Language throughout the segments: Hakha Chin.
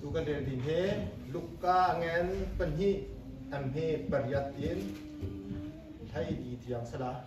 tu kan rel din he luka ngen pahnih an he pariat in thai di tiang sala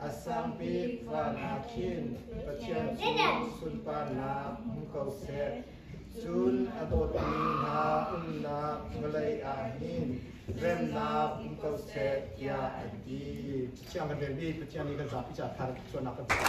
A sang bik van ah khin Pathian cu sunparnak hmu ko seh, cun a dawtmi hna umnak vawlei ah hin remnak um ko seh, tiah an ti. Siangpahrang vel nih Pathian nih kan zapi caah thar cuannak kan tuah.